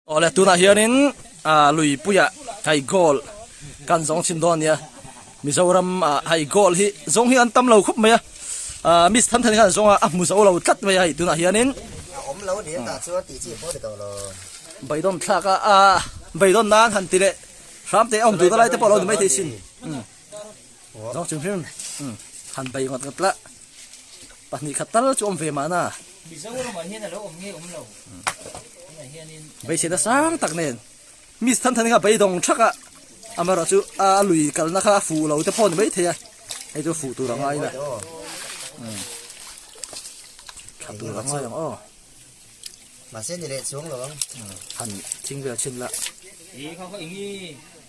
Awle tunah hianin Luipuia hei goal kan zawng chhin dawn nia Mizoram a hei goal hi zawng hi an tam lo khawp mai a Miss Thanthan hian zawng a hmu zo lo tlat mai a hei tunah hianin awm lo ni ta chu ti chi pawh ti to lo Baidon thlak a a Baidon nan han ti le hramte awm tur lai te pawh lo ni mai thei sin Aw zawk chu hming han bei ngawt ngawt lah pahnih khat tal chu awm ve mahna Mizoram ah hian a lo awm nge awm lo tunah hianin beisena sang tak nen Miss Thanthaninga beidawng thakah amarawh chu a lui kalna kha a fuh lo te pawh a ni maithei a hei chu fuh tur a ngai ila tha tur a ngai ang aw mahse ni leh chuang lo ang han thing vel thin lah.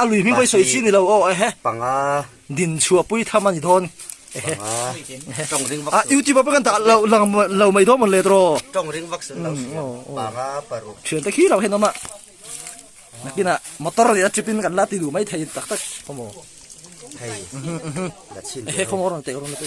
A lui hming pawh i sawi chhi nilo aw ehe. Panga. Din chhuah pui tham ani dawn. Ehe. Panga. A YouTube a pawh kan ta lo lang lo mai dawn mon le draw. Tong ring vak sun lo siam. Panga paru. Thian te khi lo hen oma. Nakina motor ni a tripin kan la ti du mai thei tak tak. Pomo. Thei. La chin. Ehe pomo rang te rang te.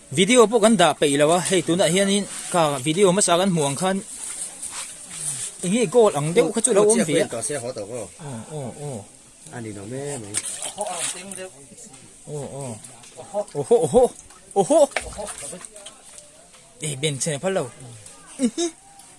Video pawh kan dah peih lo a, hei tunah hianin ka video hmasa kan hmuh ang khan enghi goal ang deuh kha chu lo awm ve a.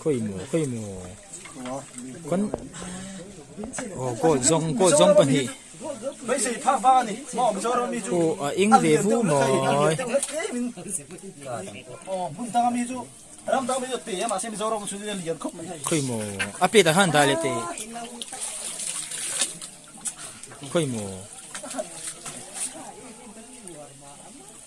Khawi maw, khawi maw. Kan... Oh, gold zawng, gold zawng pahnih. Oh, a eng ve vu mai. Khawi maw, a plate ah khan dah leh teh. Khawi maw.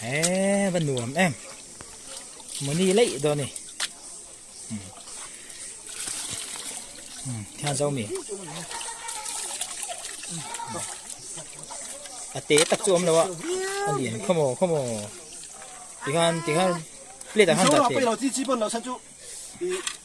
he va nuam em mawni leih daw ni thian zo mi a te tak chu om lo a a lian khawm o khawm o tikhan tikhan plate ah khan dah teh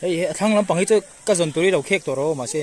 Hei hi a thlang lampang hi chu ka zawn tur hi lo khek tawh rawh mahse.